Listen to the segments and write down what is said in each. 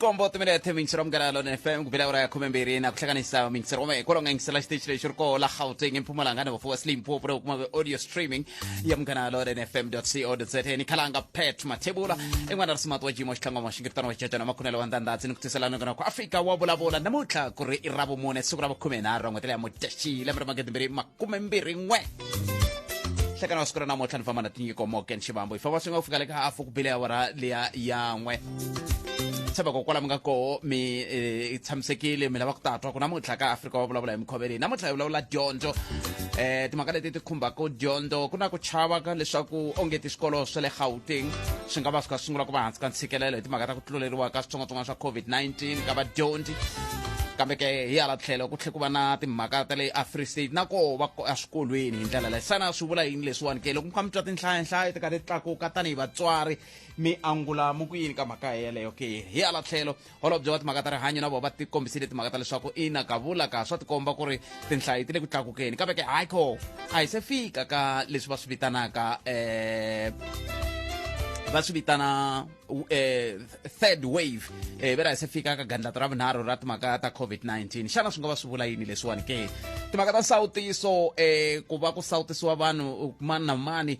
kombo timinete mingiselo munghana ya lona fm ku bela ura ya khume mbirhi na ku hlanganisa mingiselo wame hikwalaho nga yingisela xiteji lexi ri koho la gauteng emphumalanga ni vafuwa slimpopo na kuma audio streaming ya munghana ya lona fm co za ni khalanga pet mathebula en'wana risimati wa jimo xitlangwama xingiritano wa jajana makhunelo wa ndandhatsi ni ku tiselana kona ku afika wa vulavula namuntlha ku ri i ra vumune siku ra vakhume nharhu ra n'hweti leya mudyaxi lembe ra magidi mbirhi makume mbirhi n'we hlekana wa siku ra namuntlha ni famba na tinyiko moken xivambo hi famba swi nga ku fika le ka hafu ku bile awara leya yan'we tsheba ko kwala mga koho mi eh, tshamisekile mi lava ku tatwa ku namuntlha ka afrika wa vulavula hi mikhuva leyi namuntlha hi vulavula dyondzo eh timhaka leti ti khumbaka dyondzo ku na ku chava ka leswaku onge ti swikolo swa le gauteng swi nga va swi kha sungula ku va hansi ka ntshikelelo hi timhaka ta ku tluleriwa ka switsongwatsongwana swa covid-19 ka vadyondzi kambe ke hi hala tlhelo ku tlhe ku va na timhaka ta le afree state na koho va eswikolweni hi ndlela leyi xana swi vula yini leswiwani ke loko mi kha mi twa tinhlayanhlaya ti karhi ti tlakuka tanihi vatswari mi angula mu ku yini ka mhaka yeleyo ke hi hala tlhelo holobye wa timhaka ta rihanyo na vona va tikombisile timhaka ta leswaku ina kavula ka swa tikomba ku ri tinhlayo ti le ku tlakukeni kambe ke hayi ko a hi se fika ka leswi va swi vitanaka um va swi vitana um third wave um ve ra hi se fika ka gandlata ra vunharhu ra timhaka ta covid-19 xana swi nga va swi vula yini leswiwani ke timhaka ta nsawutiso um ku va ku sawutisiwa vanhu mani na mani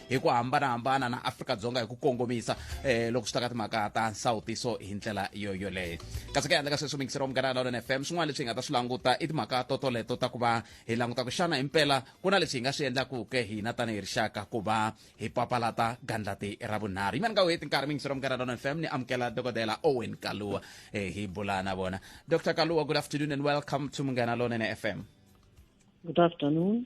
hi ku hambanahambana na afrika-dzonga hi ku kongomisa eh, loko swi ta ka timhaka ta nsawutiso hi ndlela yo yoleyo kasi ka yandla ka sweswi mingisero munghana lawlon f m swin'wana leswi hi nga ta swi languta i timhaka totoleto ta ku va hi languta ku xana hi mpela ku na leswi hi nga swi endlakuke hina tanihi rixaka ku va hi papalata gandlati ra vunharhu yimani ka weti nkarhi mingisero munghana lawlon f m ni amukela dokodela owen kaluwa eh, hi bula na vona dr kaluwa good afternoon and welcome to munghana lawlon f m good afternoon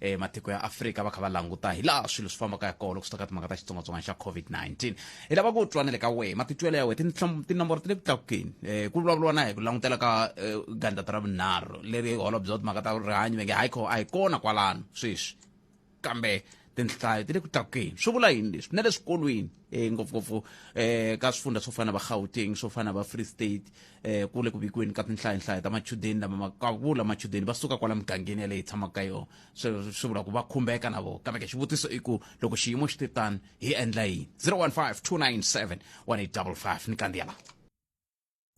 eh matiko ya Afrika va kha va languta hi laha swilo swi fambaka ya kona loko swi ta ka timhaka ta xitsongwatsongwana xa COVID-19 hi lava ku twa na le ka wehe matitwelo ya wehe tinomboro ti le ku tlakukeni um ku vulavuriwa na hi ku langutela ka eh, gandlata ra vunharhu leri holobye wa timhaka ta rihanyo va nge hayi a hi kona kwalano sweswi kambe tinhlayo ti le ku tlakukeni swi vula yini leswi na le swikolweni e ngopfungopfu eh ka swifundza swo fana va Gauteng swo fana va Free State eh kule ku vikiweni ka tinhlayanhlaya ta machudeni lama makavula machudeni va suka kwala migangeni ya leyi tshamaka ka yona swi swi vula ku va khumbeka na vona kambe ke xivutiso i ku loko xiyimo xi te tani hi endla yini 015 297 1855 ni kandziya la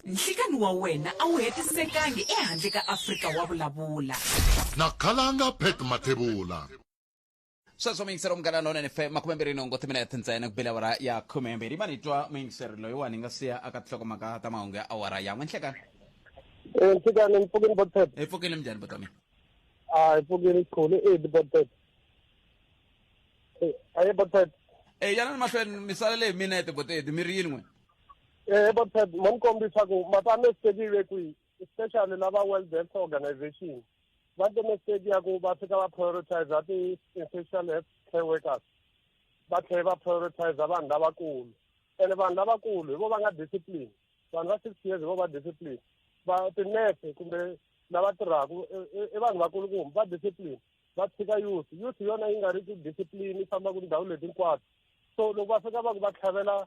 nhlikani wa wena a wu hetisekangi ehandle ka afrika wa vulavula na khalanga pet mathebula sweswo muyingiseri munghana lonene fe makume mbirhi nhungu timinete ntsena ku bile awara ya khume mbirhi ma ni twa muyingiseri loyiwani hi nga siya aka tihloko mhaka ta mahungu ya awara yan'we nhlekani Eh, nhlekani ni pfukile botet hi pfukile minjhani buti wa mina a hi pfukile khulu e di botet a ye botet e yana ni mahlweni mi salele hi minete botedi mi ri yini n'we e botet mo ni kombisa ku matame sitekile kwihi especially la va world health organization va te mistake ya ku va fika va prioritize ti-essential health care workers va tlhele va prioritize vanhu lavakulu ene vanhu lavakulu hi vo va nga discipline vanhu va six years hi vo va discipline va tinese kumbe lava tirhaka i vanhu vakulukumbi va discipline va tshika youth youth yona yi nga ri ku discipline yi fambaka ndhawu leti hinkwato so loko va fika va ku va tlhavela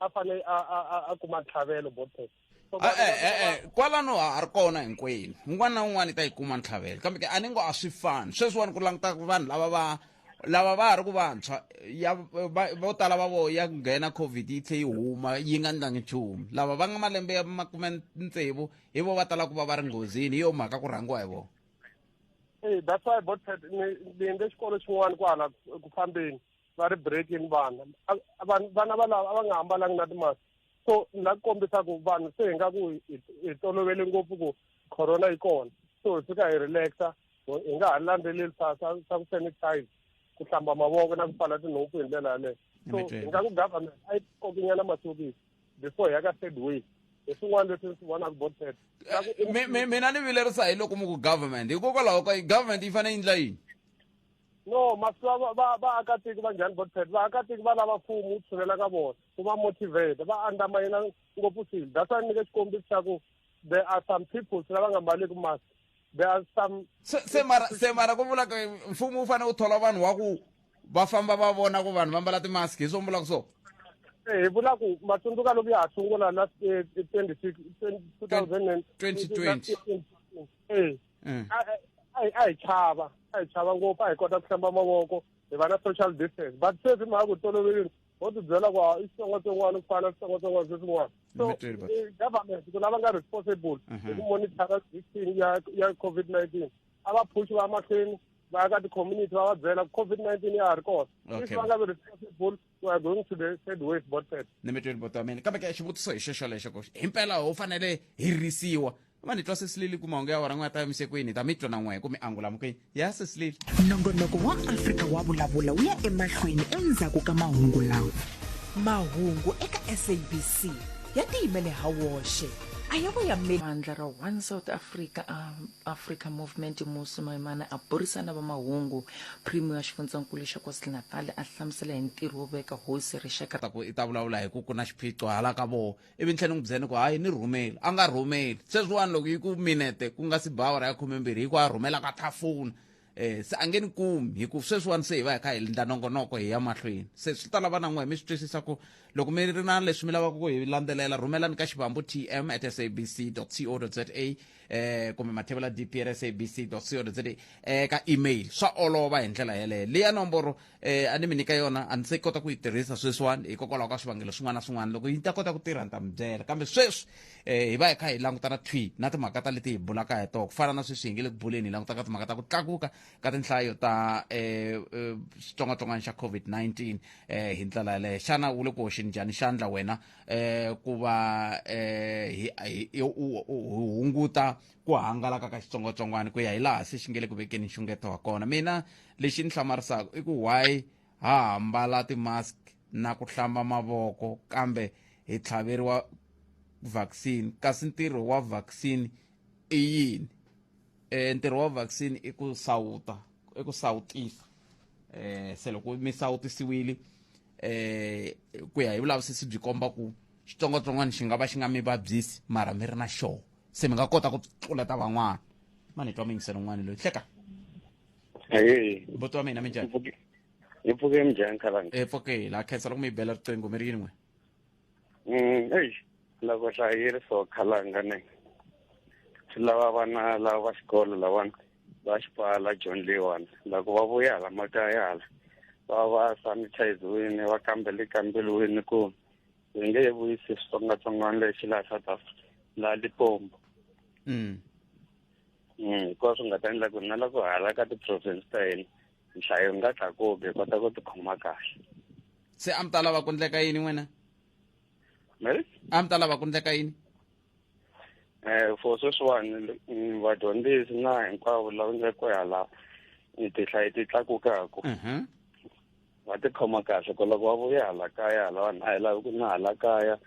a fane a a a- a kuma ntlhavelo both times So, Eh, vanhu eh, lava- eh, eh, kwalano ha ha ri kona hinkwenu un'wana na un'wana i ta yi kuma ntlhavelo kambe ke a ni ngo a swi fani sweswiwani ku languta ku vanhu lava va lava va ha ri ku vantshwa ya va- vo tala va vo ya nghena covid yi tlhe yi huma yi nga ndlangi nchumu lava va nga malembe ya makume tsevu hi vo va tala ku va va ri nghozini hi yo mhaka ku rhangiwa hi vona Eh, that's why both times ni ni endle xikolo xin'wana kwahala ku fambeni va ri breaking vana vana valava a va nga hambalangi na timask so ni la ku kombisa ku vanhu se hi nga ku hi tolovele ngopfu ku corona yi kona so hi fika hi relaxa hi nga ha landzeleli sa sa sa ku sanitize ku hlamba mavoko na ku pfala tinhompfu hi ndlela yaleyo so hi nga ku government a yi kokinyana masokisi before ya ka third wave hi swin'wana leswi swi vonaka bo third eh, mina ni vilerisa hi loko mu ku government hikokwalaho ka government yi fanele yi ndla yini no masiva vaakatiko va njhani botpet vaakatiko va lava mfumo wu tshulela ka vona ku va motivate va andlamayina ngopfu swilo that's why ni nyike xikombiso xa ku there are some people lava nga mbaleki mask there are some se se mara se mara ku vula ku mfumo wu fanele wu thola vanhu wa ku va famba va vona ku vanhu va mbala timask hi swo mi vulaka swona Eh, hi vula ku matsundzuka loko ya ha sungula na eh, 20 2020 eh, mm. a hi chava a hi chava ngopfu a hi kota ku hlamba mavoko hi va na social distance but sweswi mhaka ku tolovelini ho tibyela ku i xitsongwatsongwana ku fana switsongwatsongwana sweswin'wana so eh, government ku lava nga responsible mhm. hi ku monitara vaccine ya ya covid nineteen a va phushi va mahlweni va ya ka ti-community va va byela covid nineteen ya ha ri kona if va nga vi responsible we are going to the third wave botet ni mi tweni boto wa mina kambe ke xivutiso hi xexo lexo ku hi mpela ho fanele hi risiwa va ni twa sesilili ku mahungu ya wona n'wi ya ta yimise kwini hi ta mi twa na n'we ku mi angula mukini ya sesilili nongonoko wa afrika wa vulavula wu ya emahlweni endzhaku ka mahungu lawa mahungu eka sabc ya tiyimele ha woxe a ya vo yameli vandla ra one south africa um Africa Movement Musi Maimane a burisana va mahungu primo ya xifundzankulu xa KwaZulu-Natal a hlamusela hi ntirho wo veka hosi rixaka ta ku i ta vulavula hi ku ku na xiphiqo hala ka voho ivi ntlhela ni n'wi byela ni ku hayi ni rhumeli a nga rhumeli sweswiwani loko yi ku minete ku nga si ba awara ya khumembirhi yi ku a rhumela ka thafuna eh se a nge ni kumi hi ku sweswiwani se hi va hi kha hi lindla nongonoko hi ya mahlweni se swi ta lava na n'we mi swi twisisa ku loko mi ri na leswi mi lavaka ku hi landzelela rhumelani ka xivambu tm at sabc co za eh kumbe mathevela dpr sabc co za eh ka email swa olova hi ndlela yeleyo leya nomboro eh a ni mi nyika yona a ni se kota ku yi tirhisa sweswiwani hikokwalaho ka swivangelo swin'wana na swin'wana loko yi ta kota ku tirha ni ta mi byela kambe sweswi eh hi va hi kha hi langutana thwi na timhaka ta leti hi bulaka hi toho ku fana na sweswi hi nge le ku buleni hi langutaka timhaka ta ku tlakuka ka tinhlayo ta eh, eh xitsongwatsongwana xa covid-19 eh hi ndlela yaleyo xana wu le ku hoxeni njhani xandla wena eh ku va eh hi hunguta ku hangalaka ka xitsongwatsongwana ku ya hi laha se xi nge le ku vekeni nxungeto wa kona mina lexi ni hlamarisaka i ku why ha hambala ti-mask na ku hlamba mavoko kambe hi tlhaveriwa vaccine kasi ntirho wa vaccine i yini e ntirho wa vaccine i ku sawuta i ku sawutisa eh se loko mi sawutisiwile eh ku ya hi vulavisisi byi komba ku xitsongwatsongwana xi nga va xi nga mi vabyisi mara mi ri na xoho se mi nga kota ku tluleta van'wana ma ni twa muyingiselo un'wana loyi hleka buti wa mina minjani hi pfuke minjhani khalanga hi pfuke la khensa loko mi yi bela riqingho mi ri yini n'we mm, eyi loko hlayiri so khalanga ne swi lava vana lava va xikolo lavana va xipala john leyiwani loko va vuya hala makaya hala va va sanitiziwini va kambele kambeliwini ku hi nge he vuyisi switsongwatsongwana lexi laha south africa laha lipombo mm. mm, hikuva swi nga ta endla ku na loko hala ka ti-province ta hina nhlayo nga tlakuki hi kota ku tikhoma kahle se a mi ta lava ku ndleka yini n'wina mary a mi ta lava ku ndleka yini um for sweswiwani mm, vadyondzisi na hinkwavo lava nga ko hala tihlayi ti tlakukaku mhm. va tikhoma kahle ku loko va vuya hala kaya hala vanhu a hi lavi ku na hala kaya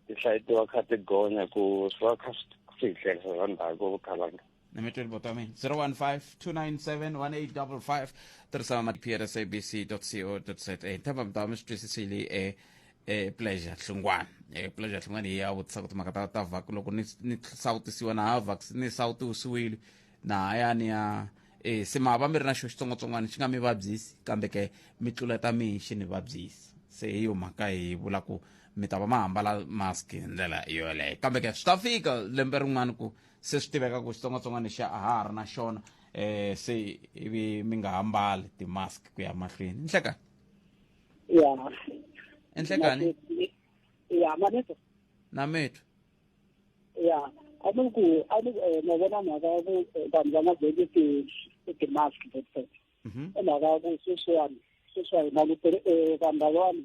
tihlayi ti va kha ti gonya ku swi va kha swi hi hlayisa swa ndhaku vukalanga na mitweli botami 015-297-1855 tirhisa ma prsabc.co.za ntamba mitama swi twisisile e e pleasure hlungwana e pleasure hlungwana hi ya vutisa ku timhaka ta ta vac loko ni ni sawutisiwa na ha vac ni sawutisiwile na ha ya ni ya e se ma va mi ri na xo xitsongwatsongwana xi nga mi vabyisi kambe ke mi tluleta mihi xi ni vabyisi se hi yo mhaka hi vula ku mi ta va ma hambala mask hi ndlela yoleyo kambe ke swi ta fika lembe rin'wana ku se swi tiveka ku xitsongwatsongwana xa a ha ha ri na xona um se ivi mi nga ha mbali ti-mask ku ya mahlweni inhlekani ya inhlekani ya maneto na methu ya a ni ku a ni eh, na vona mhaka ya ku eh, vanhu va nga veki ti ti-mask that's it i mhaka ya ku sweswiwani sweswiwa hi langutele um vanhu lavawani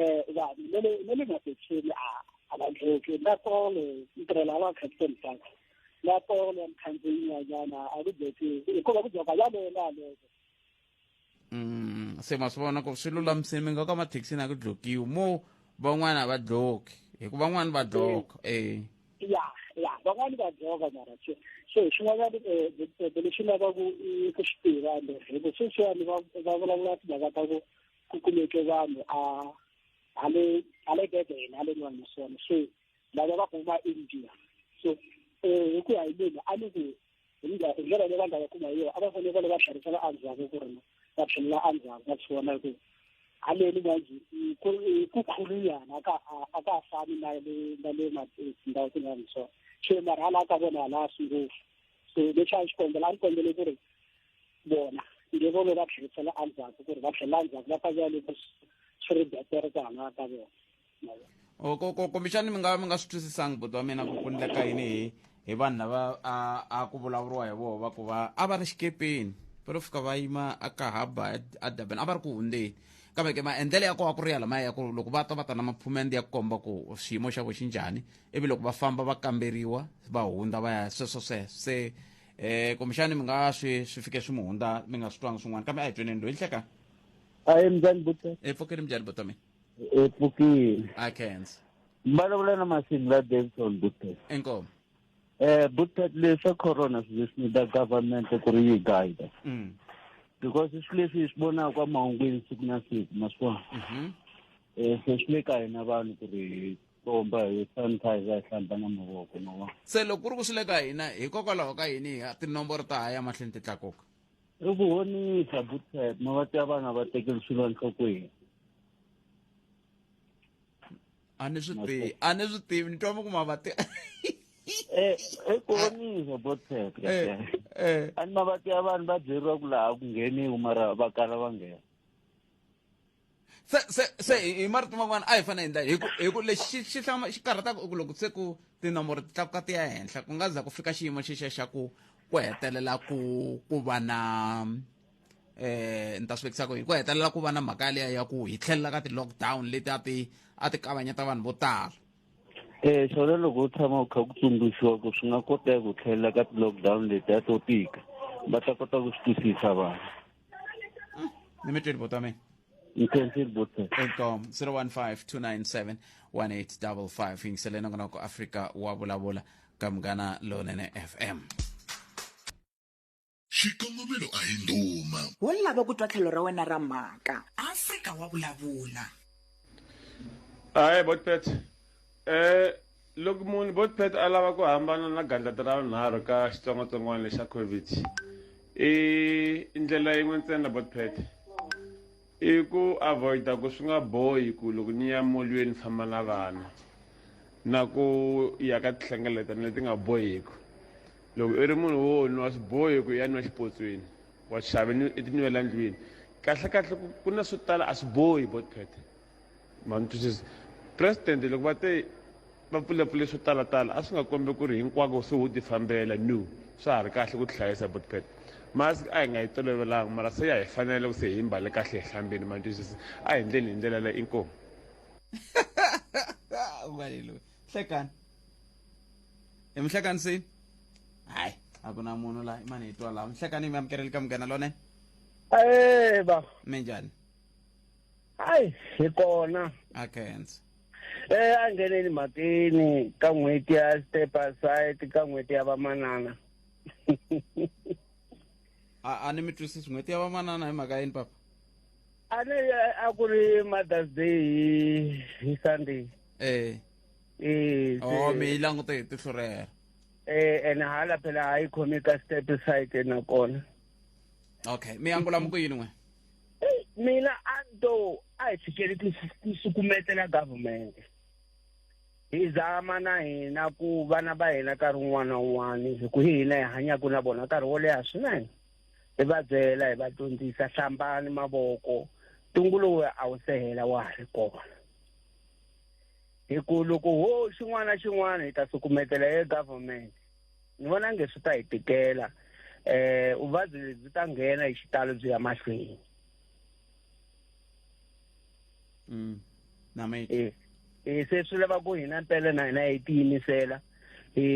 um vanhu ne le ne le mabetseni a a va ndlheki na polo ntirhela a va captain park na polo ya mukhandziyi nyanyana a ku byeki hikuva ku byaka yalena yaleko Mm, se ma swi vona ku swi lulamisile mi nga ka mathekisini a ku dlokiwi mo van'wana a va dloki hikuva van'wana va dloka eh ya ya van'wani va dzoka mara se so hi xin'wanyana um lexi lavaku i ku swi tiva ende hikuva sweswiwani va va vulavula timhaka ta ku ku kumeke vanhu a a le a le bebele a le nwana naswona so lava va kuma india so um hi ku ya hi mina a ni ku hi ndlela leyi va nga va kuma hi yona a va fanele va le va tlherisela endzhaku ku ri va tlhelela endzhaku va swona ku haleni manje ku khuluyana a ka a ka fani na le na le tindhawu tin'wana so so mara hala ka vona hala swi ngopfu so leswi a xi kombela a ni kombele ku ri vona nge vone va tlherisela endzhaku ku ri va tlhela endzhaku va ta vuya loko swi ri betere ku hambana ka vona oh, kumbexani mi nga mi nga swi twisisangi buti wa mina ku ku ndleka yini hi hi vanhu lava a a ku vulavuriwa hi voho va ku va a va ri xikepeni va lo fika va yima a ka haba a durban a va ri ku hundzeni kambe ke maendlelo ya koho a ku ri ya lamaya ya ku ri loko va ta va ta na maphumende ya ku komba ku xiyimo xa vo xi njhani ivi loko va famba va kamberiwa va hundza va ya sweswo sweswo se eh kumbexani mi nga swi swi fike swi mi hundza mi nga swi twanga swin'wana kambe a hi tweneni loyi hleka a hi minjhani buta e pfukile minjhani buta mina e pfukile a kenza mbalawula na masini la davison buta inkomo eh buta leswa corona swi leswi nida government ku ri yi guide mm. because swi leswi hi swi vonaka mahungwini siku na siku maswona um mhm. eh, se swi le ka hina vanhu ku ri komba hi sanitizer hi hlamba na mavoko ma vona se loko ku ri ku swi le ka hina hikokwalaho ka yini hi tinomboro ta ha ya mahlweni ti tlakuka i ku honisa butet ma va tiva vana va tekeli swilo enhlokweni a ni swi tivi a ni swi tivi ni twa mi ku ma va tiva eh, i ku honisa butet eh, eh. a ni ma va tiva vanhu va byeriwa ku laha ku ngheniwi mara va kala va nghena se se se hi marito man'wana a hi fanele endla hi ku hi ku lexi xi hlama xi karhataka ku loko se ku tinomboro ti tlakuka ti ya henhla ku nga za ku fika xiyimo xexa xa ku ku hetelela ku ku va na eh ni ta swi vekisa ku hi ku hetelela ku va na mhaka yaleya ya ku hi tlhelela ka ti-lockdown leti a ti a ti kavanyeta vanhu vo tala um xona loko u tshama u kha ku tsundzuxiwa ku swi nga koteka ku tlhelela ka ti-lockdown leti a to tika va ta kota ku swi twisisa vanhu ni mi tweli bota wa mina Ngithembile buthe. inkomo 015297185 yingiseleni ngonoko afrika wa vulavula ka munghana lonene fm xikongomelo a hi ndhuma wo lava ku twa tlhelo ra wena ra mhaka afrika wa vulavula Hi, Botpet. Eh, Loko munhu botpet a lava ku hambana na gandlati ra vunharhu ka xitsongwatsongwana lexa covid i ndlela yin'we ntsena botpet i ku avoida ku swi nga bohi ku loko ni ya molweni ni famba na vana na ku ya ka tihlengeletano leti nga bohiku loko i ri munhu wo nwa swi bohi ku ya nwa xipotsweni wa xave ni i tinwela ndlwini kahlekahle ku na swo tala a swi bohi botpet Ma ni twisisa president loko va te va pfulepfule swo talatala a swi nga kombi ku ri hinkwako se wo tifambela no swa ha ri kahle ku tihlayisa but pet mask a hi nga yi tolovelanga mara se ya hi fanela loko se hi mbale kahle hi hlambile ma ni twisisa a hi endleni hi ndlela leyi inkomu ubale loyi hlekani hi mi hlekanisini hayi a ku na munhu la imani hi twa laha mi hlekani mi amukeleli ka munghana lone Eh baba minjhani hayi hi kona a kense eh a ngheneni mhakeni ka n'hweti ya step aside ka n'hweti ya vamanana a a ni mi twisisi n'hweti ya vamanana hi mhaka yini papa a ni a ku ri mothers day hi hi sunday eh eh oh mi yi langute hi tihlo rero eh ene hala phela hayi khomi ka step side nakona okay mi angula muku yini n'we eyi mina a ni to a hi fikeli ku sukumetela government hi zama na hina ku vana va hina nkarhi wun'wana na wun'wana hi ku hi hina hi hanyaka na vona nkarhi wo leha swinene hi va byela hi va dyondzisa hlambani mavoko ntungu lowu a wu sehela wa ha ri kona hi ku loko ho xin'wana na xin'wana hi ta sukumetela e government ni vona nge swi ta hi tikela eh vuvabyi lebyi ta nghena hi xitalo byi ya mahlweni mm nameti eh, eh se swi lava ku hina mpele na hina hi tiyimisela hi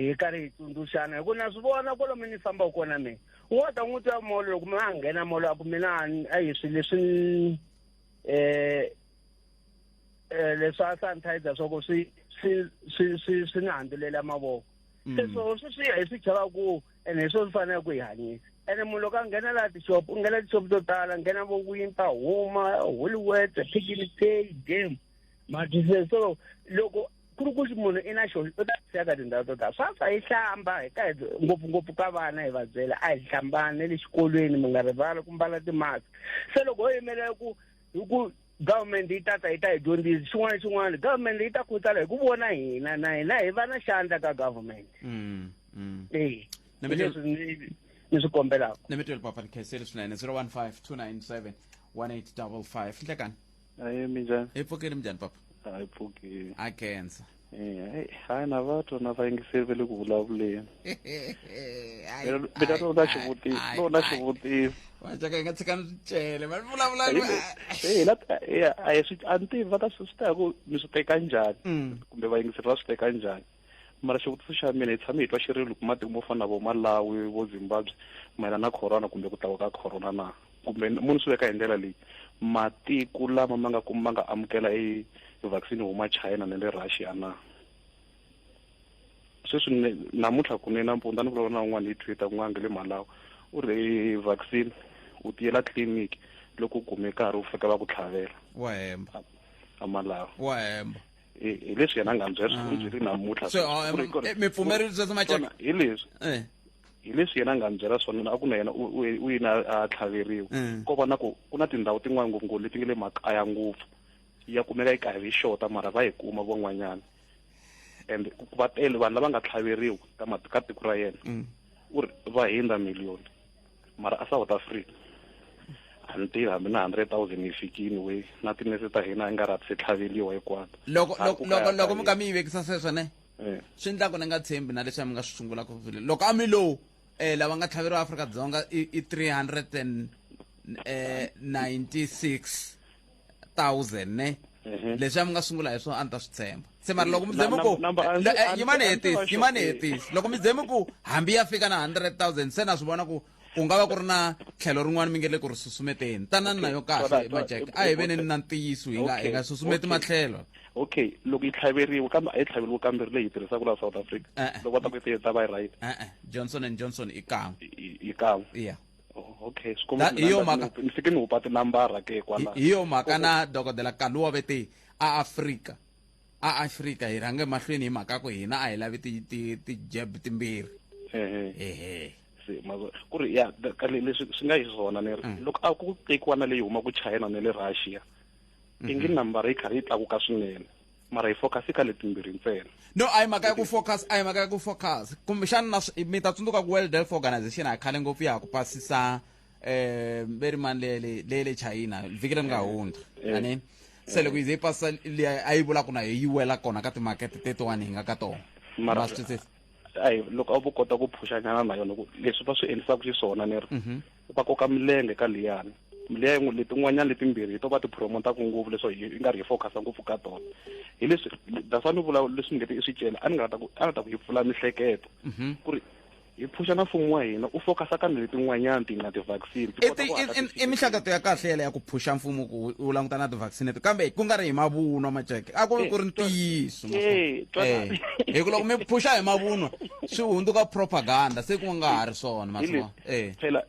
hi karhi hi tsundzuxana hi ku na swi vona kolomi ni fambaka kona mina u nga ta n'wi twa molo loko mina a nghena molo a ku mina a hi swi leswi um eh leswa sanitizer soko swi swi swi swi swi ni handulela mavoko mm. se swo swi swi hi swi chava ku ene hi swo swi fanele ku hi hanyisa ene munhu loko a nghena laha tixopo u nghena tixopo to tala nghena vo winter huma hollywood pigini pay game madise so loko ku ri ku munhu i na xona u ta siyaka tindhawu to tala swaswa yi hlamba hi ka ngopfungopfu ka vana hi va byela a hi hlambani ne le xikolweni mi nga rivali ku mbala timask se loko ho yimelela ku hi ku Government yi tata yi ta hi dyondzisa xin'wana na xin'wana government leyi ta khutsala hi ku vona hina na hina hi va na xandla ka government Mm, mm. eyi Na hi mina- leswi ni- ni swi kombelaka ni mi tweli papa ni khenseli swinene 015 297 1855 nhlekani Aye minjani? hi pfukile minjhani papa Hayi pfuki. Ha khensa Eh, hayi na va tona va yingiseri va le ku vulavuleni mina lona xivutiso lona xivutiso vajaka yi nga tshika ni swicele va vulavula a hi swi a ni tivi va ta swi swi ta hi ku mi swi teka njhani mm. kumbe vayingiseri va swi teka njhani mara xivutiso xa mina hi tshame hi twa xirilo ku matiko mo fana na vo malawi vo zimbabwe mayelana na corona kumbe ku tlakuka ka corona na kumbe mo ni swi veka hi ndlela leyi matiko lama ma nga ku ma nga amukela e vaccine huma china na le russia na sweswi namuntlha kune nampundza ni vulavula na un'wana hi twitter ku nga nge le malawi u ri e vaccine u tiyela tliliniki loko u kume nkarhi u fika va ku tlhavela wa hemba a malawi wa hemba hi leswi yena a nga byela swi byeli namuntlha mi pfumerile sweswo macaka hi leswi hi leswi yena a nga byela swona a ku na yena u yini a tlhaveriwa ko va na ku ku na tindhawu tin'wana ngopfungopfu leti nge le makaya ngopfu ya kumeka yi karhi yi xota mara va yi kuma van'wanyana and va tele vanhu lava nga tlhaveriwa ka ka tiko ra yena u ri va hundza million mara a south africa a ni tivi hambi na hundred thousand yi fikini we na tinese ta hina i nga ri se tlhaveliwa hinkwato loko loko loko loko mi ka mi yi vekisa sweswo ne eh. swi endla ku ni nga tshembi na leswi a mi nga swi sungula ku vile loko a mi lowu um eh, lava nga tlhaveriwa afrika dzonga i three hundred and um eh, ninety six thousand ne Ehe. leswi a mi nga sungula hi swona a ni ta swi tshemba se mara loko mi Na- zeme ku na- number- a- Lo- eh, a- a- yimani a- a- hetisi a- yimani a- hetisi loko mi zeme ku hambi ya fika na 100000 se na swi vona ku ku nga va ku ri na tlhelo rin'wana mi nge le ku ri susumeteni tanani na yo kahle Alright, majek alright. a hi veneni na ntiyiso hi nga hi Okay, nga susumeti okay. matlhelo okay loko yi tlhaveriwa kambe a yi tlhaveriwa kambirhi leyi yi tirhisaka laha south africa Eh, eh. loko va ta ku yi ta va yi right e-e johnson and johnson i kan'we yi yi kan'we iya Oh, okay hi yo mhaka ni fike ni hupa tinambara ke kwala hi yo mhaka na dokodela kaluwa vete a afrika a afrika hi rhange mahlweni hi mhaka ku hina a hi lavi ti-jab timbirhi ehe ku ri ya leswi swi nga hi swona ni ri mm. loko a ku tekiwa na leyi huma ku china na le russia mm-hmm. ingi nambara yi karhi yi tlakuka swinene mara hi focus ka letimbirhi ntsena no a hi mhaka ya ku focus a hi mhaka ya ku focus kumbexana na mi ta tsundzuka ku world health organization a khale ngopfu ya ha ku pasisa um ve ri mani leyele leye le china vhiki leri nga eh, hundza eh. ani se loko yi ze yi pasisa liya a yi vula ku na yi wela kona ka timakete tetiwani hi nga ka tona mara swi twisisa ayi loko a vo kota ku phuxanyana na yona leswi va swi endlisaka xiswona ni ri mhm. va koka milenge ka liyani liya yin'we letin'wanyana letimbirhi hi to va ti promotaku ngopfu leswo hi nga ri hi focus-a ngopfu ka tona hi leswi that's why ni vula leswi ni nge ti i swi cela a ni nga ta ku a ni ta ku hi pfula mihleketo mhm. ku ri hi phuxa na mfumo wa hina u focus-a ka ni letin'wanyana ti nga ti-vaccine i mihlakato ya kahle yela ya ku phuxa mfumo ku u languta na ti-vaccine to kambe ku nga ri hi mavunwa majeke a ku ri ku ri ntiyiso eh, eh, hi ku loko mi phuxa hi mavunwa swi hundzuka propaganda se ku nga ha ri swona eh. phela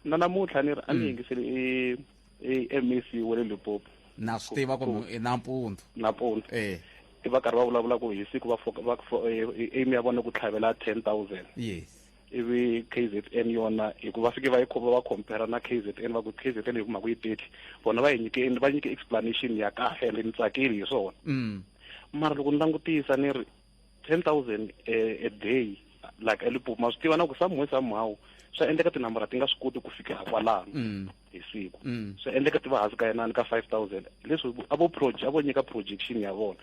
na namuntlha ni ri a ni mm. yingiseli e, e, e mec wa le limpopo na swi tiva kumbe nampundzu nampundzu eh i va karhi va vulavula ku hi siku va aim ya vona ku tlhavela ten thousand yes ivi kzn yona hikuva fike va yi khoma va compare na kzn va ku kzn hi kuma ku yi teti vona va yi nyike va nyike explanation ya kahle ende ni tsakile hi swona mm. mara loko ni langutisa ni ri ten thousand eh, a day like elipopo ma swi tiva na ku somehow somehow swa endleka tinambara ti nga swi koti ku fika kwalano mm. hi siku mm. swa endleka ti va hansi ka yenani ka five thousand leswi a vo project a vo nyika projection ya vona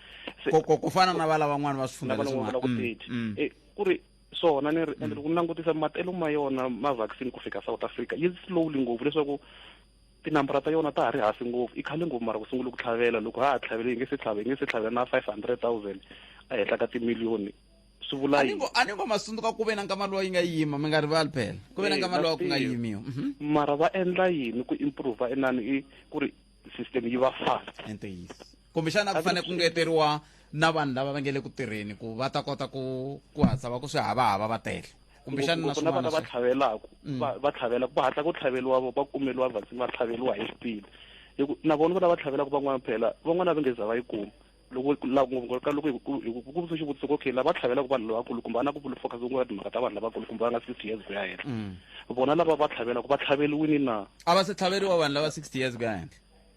ku fana na va lavan'wana va swi fundavan'wana ku mm, thirty eh, ku ri swona ni ri ende loko ni langutisa matelo ma yona ma-vaccine ku fika south africa yi slowly ngopfu leswaku Tinambara ta yona ta ha ri hansi ngopfu, i khale ngopfu mara ku sungule ku tlhavela. Loko ha ha tlhavele hi nge se tlhava, hi nge se tlhavela na 500,000 ehenhla ka timiliyoni. Swi vula A ni yini? ngo, a ni ngo ma tsundzuka ku ve na nkama lowa yi nga yima, mi nga rivali phela. Ku ve na nkama Ina, lowa ku nga ntiyiso. yimiwa. Mhm. Mara va endla yini ku improve inani i ku ri system yi va fast? I ntiyiso. kumbexana ku fanele ku ngeteriwa na vanhu lava va nge le ku tirheni ku va ta kota ku ku hatla va ku swi havahava va tele kumbexana na swin'wana vana va tlhavelaka mm. va tlhavelaka va hatla ku tlhaveliwa va kumeliwa vaccine va tlhaveliwa hi xipidi hi ku na vona lava tlhavelaka van'wana phela van'wana va nge za va yi kuma loko ngopfu ka loko ku vutisa xivutiso okay lava tlhavelaka vanhu lavakulu kumbe ana ku vula focus ku nga timhaka ta vanhu lavakulu kumbe va nga sixty years ku ya henhla mm. vona lava va tlhavelaka va tlhaveliwini na a va se tlhaveriwa vanhu lava sixty years ku ya henhla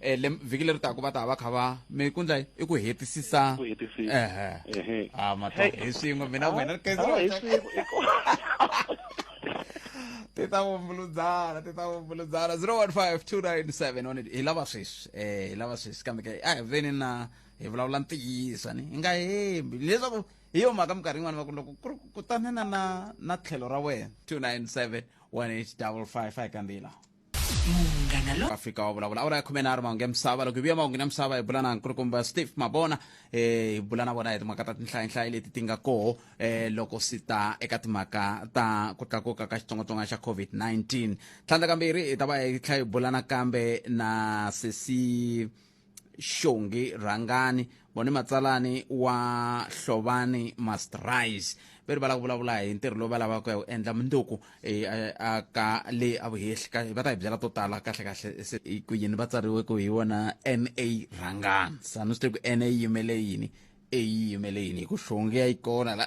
eh, le vhiki leri taku va ta va kha va mi ku ndla i ku hetisisa ku hetisisa ehe ehe ah matwa hi swin'we mina ah, wena kaizer ah, hi swin'we ti ta vumbuludzana ti ta vumbuludzana 015297 hi lava sweswi eh hi lava sweswi kambe ke a hi veni na hi vulavula ntiyiso ni hi nga hembi leswaku hi yo mhaka minkarhi yin'wana va ku loko ku ri kutane na na na tlhelo ra wena 297 1855 a hi kandziyilaa munghana lo afrika wa vulavula awara ya khume nharhu mahungu ya misava loko hi vuya mahungu ya misava hi bula na nkulukumba steve mabona eh hi bula na vona hi timhaka ta tinhlayanhlayi leti ti nga koho eh loko si ta eka timhaka ta ku tlakuka ka xitsongwatsongwana xa covid-19 tlhandla kambirhi hi ta va hi tlhela hi bula nakambe na sesi xongi rhangani vone matsalani wa hlovani must rise ve ri va la ku vulavula hi ntirho lowu va lavaka hi wu endla munduku eh, eh, a ka le a vuhehli ka va ta hi byela to tala kahle kahle se hi ku yini va tsariwe ku hi wona na rhangani sanu swi te ku na yi yimele yini a yi yimele yini hi ku xongi ya yi kona la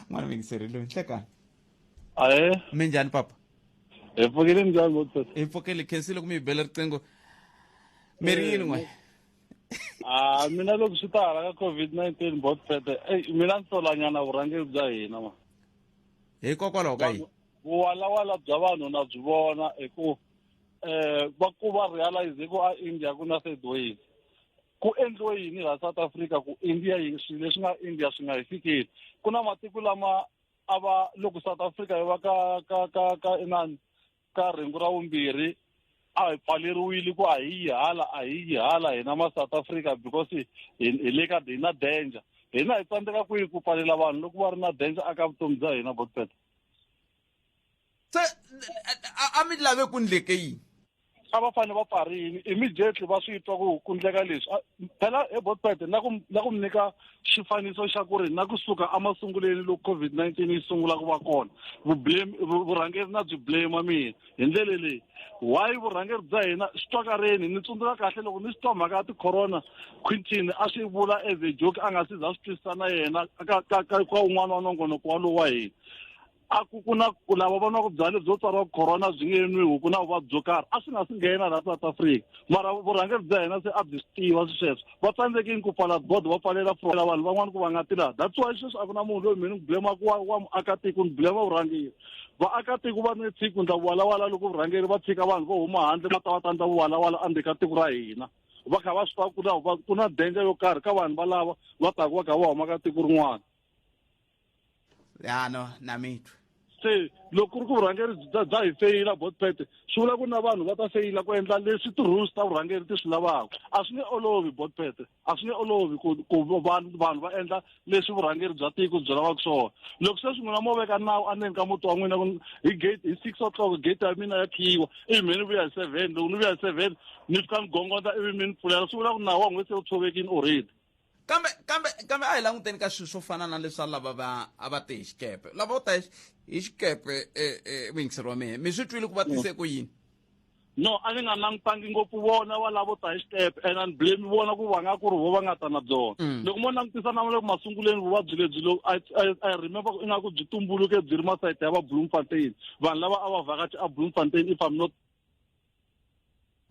n'wana mingiseri loyi nhlekani ahe mi njhani papa hi pfukile ndyangu sesi hi pfukele khensile ku mi bela riqingho mi ri yini n'we a mina loko swi ta hala ka covid 19 bot pete ey mina ni solanyana vurhangeri bya hina ma hikokwalaho ka yini vuwalawala bya vanhu na byi vona hi ku um va ku va realize ku a india ku na third wave ku endliwe yini laha south africa ku india yi swilo leswi nga india swi nga hi fikeli ku na matiko lama a va loko south africa yi va ka ka ka ka inani ka rhengu ra vumbirhi a hi pfaleriwile ku a hi yi hala a hi yi hala hina ma south africa because hi le ka hi na danger hina hi tsandzeka kwihi ku pfalela vanhu loko va ri na danger aka vutomi bya hina botpeta se a mi lave ku ndleke yini a va fanele va pfarini immediately va swi twa ku ku ndleka leswi phela he botpet na ku na ku mi nyika xifaniso xa ku ri na kusuka emasunguleni loko covid-19 yi sungula ku va kona vublame vurhangeri na byi blame mina hi ndlele leyi why vurhangeri bya hina swi twakareni ni tsundzuka kahle loko ni swi twa mhaka ya ticorona quintin a swi vula as a joke a nga si za swi twisisa na yena ka ka ka ka un'wana wa nongonoko walowo wa hina a ku ku na ku lava va nwaku byalwa byo tsariwa ku corona byi nge nwiwi ku na vuvabyi byo karhi a swi nga swi nghena laha south africa mara vurhangeri bya hina se a byi swi tiva swi sweswo va tsandzeke ni ku pfala bodo va pfalela frola vanhu van'wana ku va nga tilaha that's why sweswi a ku na munhu loyi mina ni blemaku wa wa muakatiko ni blema vurhangeri vaakatiko va ni tsiki ku ndla vuwalawala loko vurhangeri va tshika vanhu vo huma handle va ta va ta ndla vuwalawala endzeni ka tiko ra hina va kha va swi tiva ku na ku na denja yo karhi ka vanhu valava va taku va kha va huma ka tiko rin'wana ya no na mitwa se loko ku ri ku vurhangeri bya bya hi feyila botpet swi vula ku na vanhu va ta feyila ku endla leswi ti-rules ta vurhangeri ti swi lavaka a swi nge olovi botpet a swi nge olovi ku ku vanhu vanhu va endla leswi vurhangeri bya tiko byi lavaka swona loko se swi n'wina mo veka nawu endzeni ka muti wa n'wina ku hi gate hi six o'clock gate ya mina ya khiyiwa ivi mi ni vuya hi seven loko ni vuya hi seven ni fika ni gongondza ivi mi ni pfulela swi vula ku nawu wa n'wina se wu tshovekile already kambe kambe kambe a hi languteni ka swilo swo fana na leswa lava va a va te hi xikepe lava vo ta hi hi xikepe eh, eh, muyingiseri wa mehe mi swi twile ku va tise ku yini no a ni nga langutangi ngopfu vona va lavo ta hi xitepe and ani blame vona ku va nga ku ri vo va nga ta na byona Mm. loko mo langutisa na le ku masunguleni vuvabyi lebyi lo I- I- i remember ku ingaku byi tumbuluke byi ri masayiti ya va bloemfontein vanhu lava a va vhakachi a bloemfontein if i'm not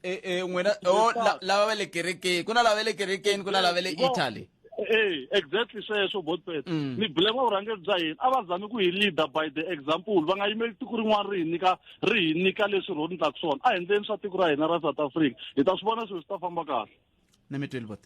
eh eh n'wina oh la- lava va le kerekeni ku na lava va le kerekeni ku na lava va le italy Eh, exactly sweswo botpet Mm. ni blame vurhangeri bya hina a va zami ku hi leader by the example va nga yimeli tiko rin'wana ri hi nyika ri hi nyika leswi ro ni taku swona a hi endleni swa tiko ra hina ra south africa hi ta swi vona swilo swi ta famba kahle ni mi tweli bote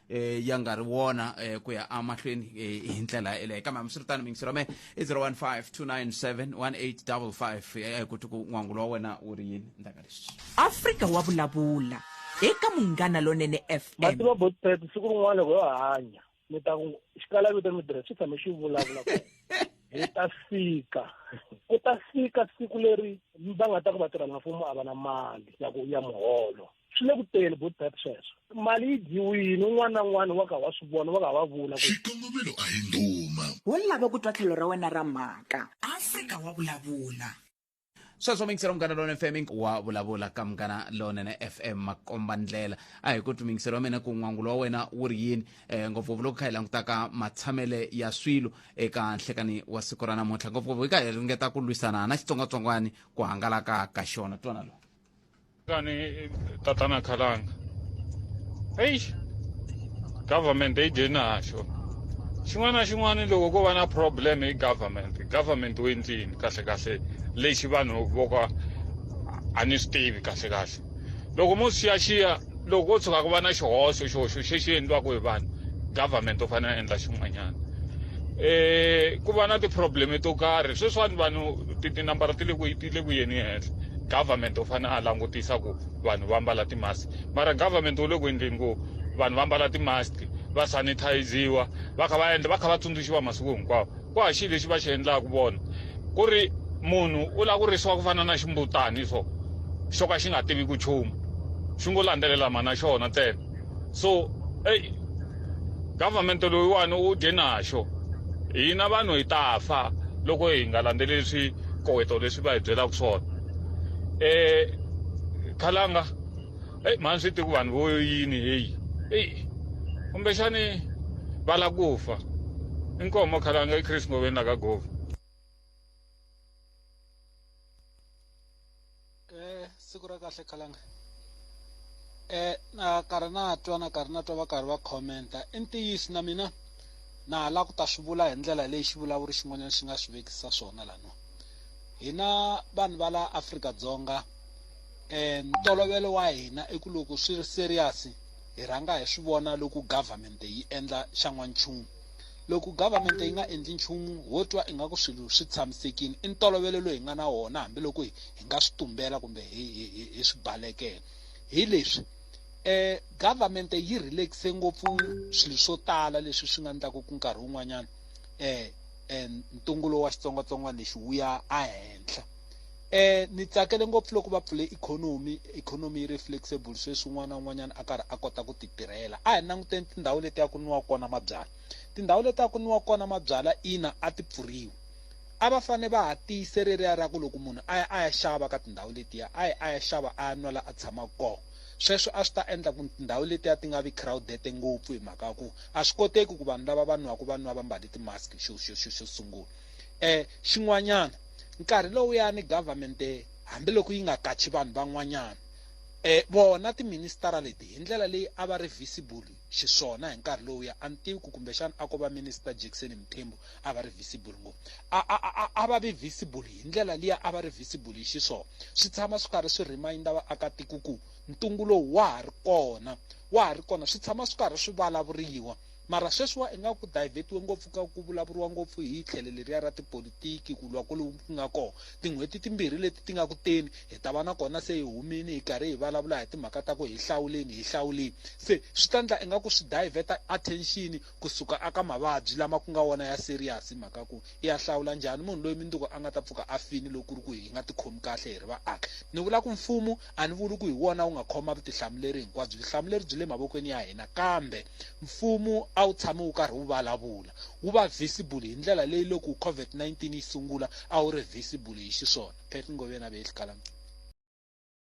eh ya nga ri wona eh ku ya amahlweni eh, hi ndlela eleyo kambe hambiswiritano mingisi ra me i 0152971855 eh ku tiku n'wangu lowa wena wu ri yini ndaka lexi afrika wa vulavula eka munghana lonene fm mativa botpet siku rin'wana loko yo hanya mi ta ku xikalavito mi tirha swi tshame xi vulavula ku hi ta fika ku ta fika siku leri va nga ta ku vatirhelamfumo a va na mali ya ku ya muholo swi le ku teni good bad sweswo mali yi dyiwini un'wana na un'wana wa ka wa swi vona wa ka wa vula xikongomelo a hi ndhuma wo lava ku twa tlhelo ra wena ra mhaka afrika wa vulavula sweswo mingisela munghana lowunene fm wa vulavula ka munghana lowunene fm makomba ndlela a hi ku twimingiselo wa mina ku n'wangulo wa wena wu ri yini um ngopfungopfu loko kha hi langutaka matshamele ya swilo eka nhlekani wa siku ra namuntlha ngopfungopfu hi ka hi ringeta ku lwisana na xitsongwatsongwani ku hangalaka ka xona twana lowu Kani tatana khalanga. Eish. Government yi dye naxo. Xin'wana na xin'wana loko ko va na problem hi government. Government u endlini kahle kahle lexi vanhu vo ka a ni swi tivi kahle kahle. Loko mo xiyaxiya loko ko tshuka ku va na xihoxo xihoxo xi xi endliwaka hi vanhu government u fanele a endla xin'wanyana um ku va na ti-problem to karhi sweswiwani vanhu tinambara ti le ku ti le ku yeni henhla government u fanele a langutisa ku vanhu va mbala ti-mask mara government wu le ku endleni ku vanhu va mbala ti-mask va sanitiziwa va kha va endla va kha va tsundzuxiwa masiku hinkwawo ku ha xi lexi va xi endlaka vona ku ri munhu u lava ku risiwa ku fana na ximbutani so xo ka xi nga tivi ku chumu xi ngo landzelela mhana xona ntsena so ey government loyiwani u dye naxo hina vanhu hi ta fa loko hi nga landzeleli swikoweto leswi va hi byelaka swona um khalanga eyi mhani swi tiku vanhu vo yini heyi eyi kumbexani va la ku fa inkoho mokhalanga i chris ngoveni la ka gova eh siku ra kahle khalanga eh na karhi na twa na karhi na twa va karhi va commenta i ntiyiso na mina na ha lava ku ta swi vula hi ndlela leyi xivulavuri xin'wanyana xi nga swi vekisa swona lano hina vanhu va la afrika dzonga eh, ntolovelo wa hina i ku loko swi ri serious hi rhanga hi swi vona loko government yi endla xa n'wanchumu loko government yi nga endli nchumu ho twa ingaku swilo swi tshamisekile i ntolovelo loyi hi nga na wona hambiloko hi hi nga swi tumbela kumbe hi hi hi hi swi balekela hi leswi eh government yi relaxe ngopfu swilo swo tala leswi swi nga endlaka ku nkarhi wun'wanyana eh eh ntungulo wa xitsongwatsongwana lexi wu ya ehenhla eh ni tsakele ngopfu loko va pfule ikhonomi ikhonomi yi ri flexible sweswi un'wana na un'wanyana a karhi a kota ku titirhela a hi languteni tindhawu leti ya ku niwa kona mabyala tindhawu leti ya ku niwa kona mabyala ina a ti pfuriwi a va fane va ha tiyise reriya ra ku loko munhu a ya a ya xava ka tindhawu letiya a yi a ya xava a ya nwela a tshama kona sweswo a swi ta endla ku tindhawu letiya ti nga vi crowded ngopfu hi mhaka ku a swi koteki ku vanhu lava va nwaka va nwa va mbale ti-mask xo xo xo xo sungula um xin'wanyana Nkarhi lowuyani government hambi loko yi nga kachi vanhu van'wanyana eh vona ti minister leti hi ndlela leyi a va ri visible xiswona hi nkarhi lowu ya a ni tivi ku kumbexana a ko va minister Jackson Mthembu a va ri visible ngopfu a a a a va vi visible hi ndlela liya a va ri visible hi xiswona swi tshama swi karhi swi reminder vaakatiko ku ntungu lowu wa ha ri kona wa ha ri kona swi tshama swi karhi swi vulavuriwa Mara sweswiwa ingaku ku divert-iwe ngopfu ka ku vulavuriwa ngopfu hi tlhelo leriya ra tipolitiki, ku lwa ku ku nga kona. Tin'hweti timbirhi leti ti nga ku teni hi ta va na kona se hi humile hi karhi hi vulavula hi timhaka ta ku hi hlawuleni hi hlawuleni. Se swi ta endla ingaku swi divert-a attention ku suka eka mavabyi lama ku nga wona ya serious hi mhaka ya ku i ya hlawula njhani munhu loyi mundzuku a nga ta pfuka a file loko ku ri ku hi nga tikhomi kahle hi ri vaaki. Ni vula ku mfumo A ni vuli ku hi wona wu nga khoma vutihlamuleri hinkwabyo, vutihlamuleri byi le mavokweni ya hina, kambe Mfumo a wu tshame wu karhi wu valavula, wu va visible hi ndlela leyi loko COVID-19 yi sungula a wu ri visible hi xiswona. Pat Ngobeni a ve eXikhalancuva.